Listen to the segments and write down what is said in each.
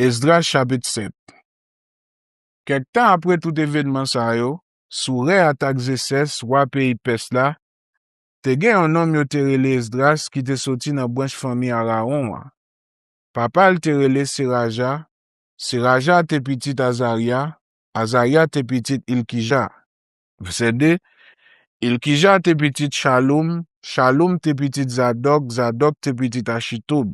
Esdras chapit 7 Kèk tan apre tout evènman sa yo, sou rè atak Zesès, wa peyi Pès la, te gen yon nonm yo te rele Esdras ki te soti nan branch fanmi Arawon an. Papa l te rele Seraja, Seraja te pitit Azarya, Azarya te pitit Ilkija. Vèsè 2 Ilkija te pitit Chaloum, Chaloum te pitit Zadòk, Zadòk te pitit Achitoub,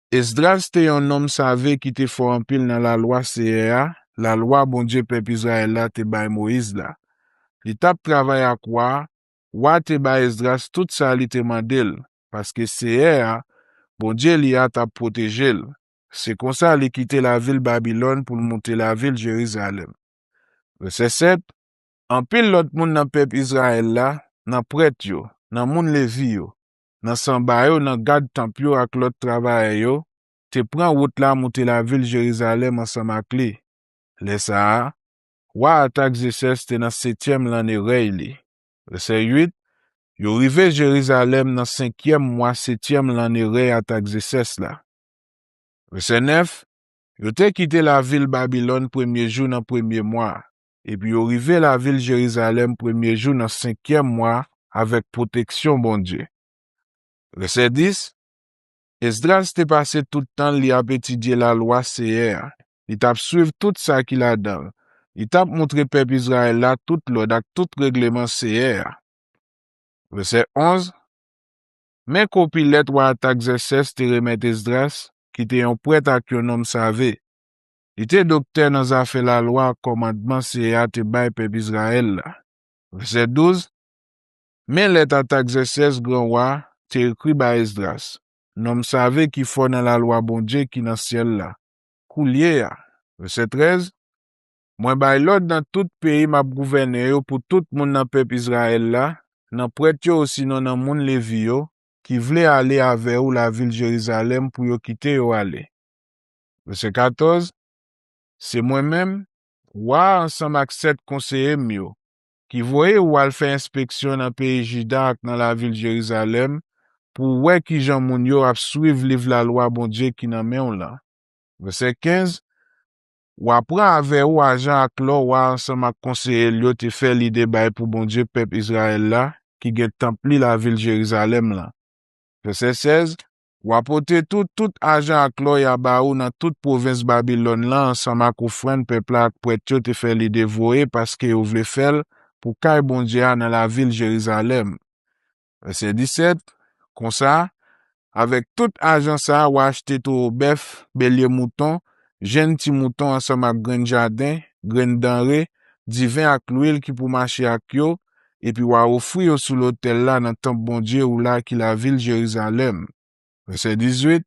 Esdras te yon nonm save ki te fò anpil nan Lalwa Seyè a, Lalwa Bondye pèp Izrayèl la te bay Moyiz la. Li t ap travay ak wa a, wa a te bay Esdras tout sa li te mande l, paske Seyè a, Bondye li a, t ap pwoteje l. Se konsa li kite lavil Babilòn pou l monte lavil Jerizalèm. Vèsè 7, Anpil lòt moun nan pèp Izrayèl la, nan prèt yo, nan moun Levi yo, nan sanba yo, nan gad tanp yo ak lòt travayè yo, te pran wout la moute lavil Jerizalèm ansanm ak li. Lè sa a, wa Atagzesès te nan setyèm lanne rèy li. Vèsè 8, Yo rive Jerizalèm nan senkyèm mwa setyèm lanne rèy Atagzesès la. Vèsè 9, Yo te kite lavil Babilòn premye jou nan premye mwa a. Epi yo rive lavil Jerizalèm premye jou nan senkyèm mwa a avèk pwoteksyon Bondye. Vèsè 10, Esdras te pase tout tan l li ap etidye Lalwa Seyè a, li t ap suiv tout sa ki ladan l, li t ap montre pèp Izrayèl la tout lòd ak tout regleman Seyè a. Vèsè 11, Men kopi lèt wa Atagzèsès te remèt Esdras, ki te yon prèt ak yon nonm save. Li te doktè nan zafè lalwa ak kòmandman Seyè a te bay pèp Izrayèl la. Vèsè 12, Men lèt Atagzèsès, gran wa, te ekri bay Esdras, nonm save ki fò nan lalwa Bondye ki nan syèl la, Koulye a, vèsè 13, mwen bay lòd nan tout peyi m ap gouvènen yo pou tout moun nan pèp Izrayèl la, nan prèt yo osinon nan moun Levi yo, ki vle ale avè ou lavil Jerizalèm pou yo kite yo ale. Vèsè 14, Se mwen menm, wa a ansanm ak sèt konseye m yo, ki voye ou al fè enspeksyon nan peyi Jida ak nan lavil Jerizalèm pou w wè ki jan moun yo ap suiv liv lalwa Bondye ki nan men w lan. Vèsè 15, Wa pran avè ou ajan ak lò wa a ansanm ak konseye l yo te fè lide bay pou Bondye pèp Izrayèl la ki gen tanp li lavil Jerizalèm lan. Vèsè 16, W a pote tou tout ajan ak lò y a ba ou nan tout pwovens Babilòn lan ansanm ak ofrann pèp la ak prèt yo te fè li devoye paske yo vle fè l pou kay Bondye a nan lavil Jerizalèm. Vèsè 17, Konsa, avèk tout ajan sa a, w a achte towo bèf, belye mouton, jenn ti mouton ansanm ak grenn jaden, grenn danre, diven ak lwil ki pou mache ak yo, epi w a ofri yo sou lotèl la nan tanp Bondye ou la ki lavil Jerizalèm. Vèsè 18,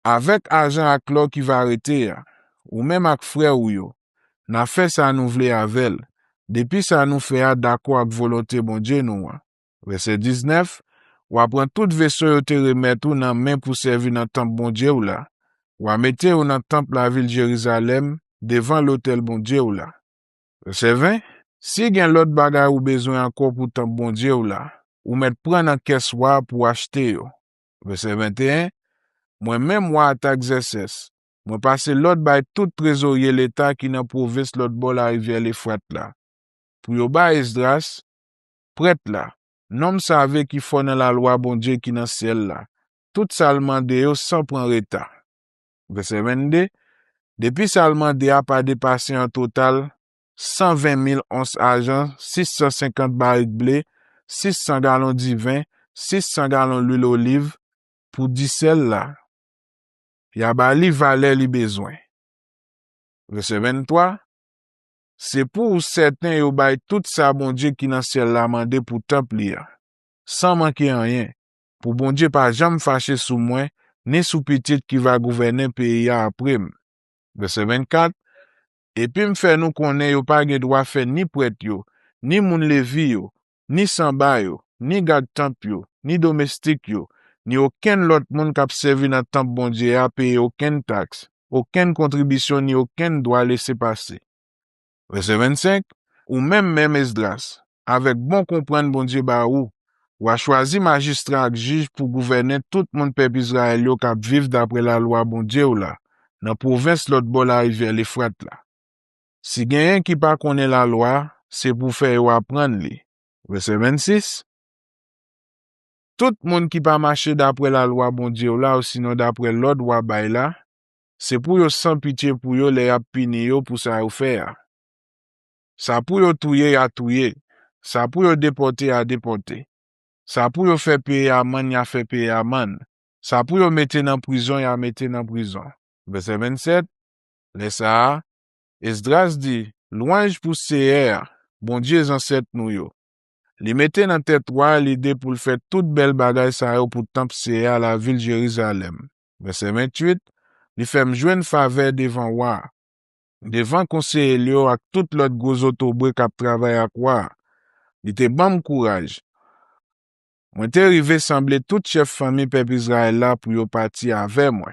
Avèk ajan ak lò ki va rete a, ou menm ak frè ou yo, n a fè sa nou vle avè l, depi sa nou fè a dakò ak volonte Bondye nou an. Vèsè 19, W a pran tout veso yo te remèt ou nan men pou sèvi nan tanp Bondye ou la, w a mete yo nan tanp lavil Jerizalèm, devan lotèl Bondye ou la. Vèsè 20, Si gen lòt bagay ou bezwen ankò pou tanp Bondye w la, ou mèt pran nan kès wa a pou w achte yo. Vèsè 21, Mwen menm wa Atagzèsès, mwen pase lòd bay tout trezorye leta ki nan pwovens lòt bò larivyè Lefrat la, pou yo bay Esdras, prèt la, nonm save ki fò nan lalwa Bondye ki nan syèl la, tout sa l mande yo san pran reta. Vèsè 22, Depi sa l mande a pa depase an total 120 mil ons ajan, 650 barik ble, 600 galon diven, 600 galon lwil oliv, pou disèl la, y a ba li valè li bezwen. Vèsè 23, Se pou ou sèten yo bay tout sa Bondye ki nan syèl la mande pou tanp li a, san manke anyen, pou Bondye pa janm fache sou mwen ni sou pitit ki va gouvènen peyi a apre m. Vèsè 24, Epi m fè nou konnen yo pa gen dwa fè ni prèt yo, ni moun Levi yo, ni sanba yo, ni gad tanp yo, ni domestik yo, ni okenn lòt moun k ap sèvi nan tanp Bondye a peye okenn taks, okenn kontribisyon ni okenn dwa lese pase. Vèsè 25, Ou menm menm Esdras, avèk bon konprann Bondye ba ou, w a chwazi majistra ak jij pou gouvènen tout moun pèp Izrayèl yo k ap viv dapre lalwa Bondye w la nan pwovens lòt bò larivyè Lefrat la. Si genyen ki pa konnen lalwa a, se pou w fè yo aprann li. Vèsè 26, Tout moun ki pa mache dapre lalwa Bondye w la osinon dapre lòd w a bay la, Se pou yo san pitye pou yo lè y ap pini yo pou sa yo fè a. Sa pou yo touye ya touye, sa pou yo depòte ya depòte. Sa pou yo fè peye amann ya fè peye amann, sa pou yo mete nan prizon ya mete nan prizon. Vèsè 27, Lè sa a, Esdras di, Lwanj pou Seyè a, Bondye zansèt nou yo. Li mete nan tèt wa a lide pou l fè tout bèl bagay sa yo pou tanp Seyè a, lavil Jerizalèm. Vèsè 28, Li fè m jwenn favè devan wa a, devan konseye l yo ak tout lòt gwo zotobre k ap travay ak wa a. Li te ban m kouraj. Mwen te rive sanble tout chèf fanmi pèp Izrayèl la pou yo pati avè mwen.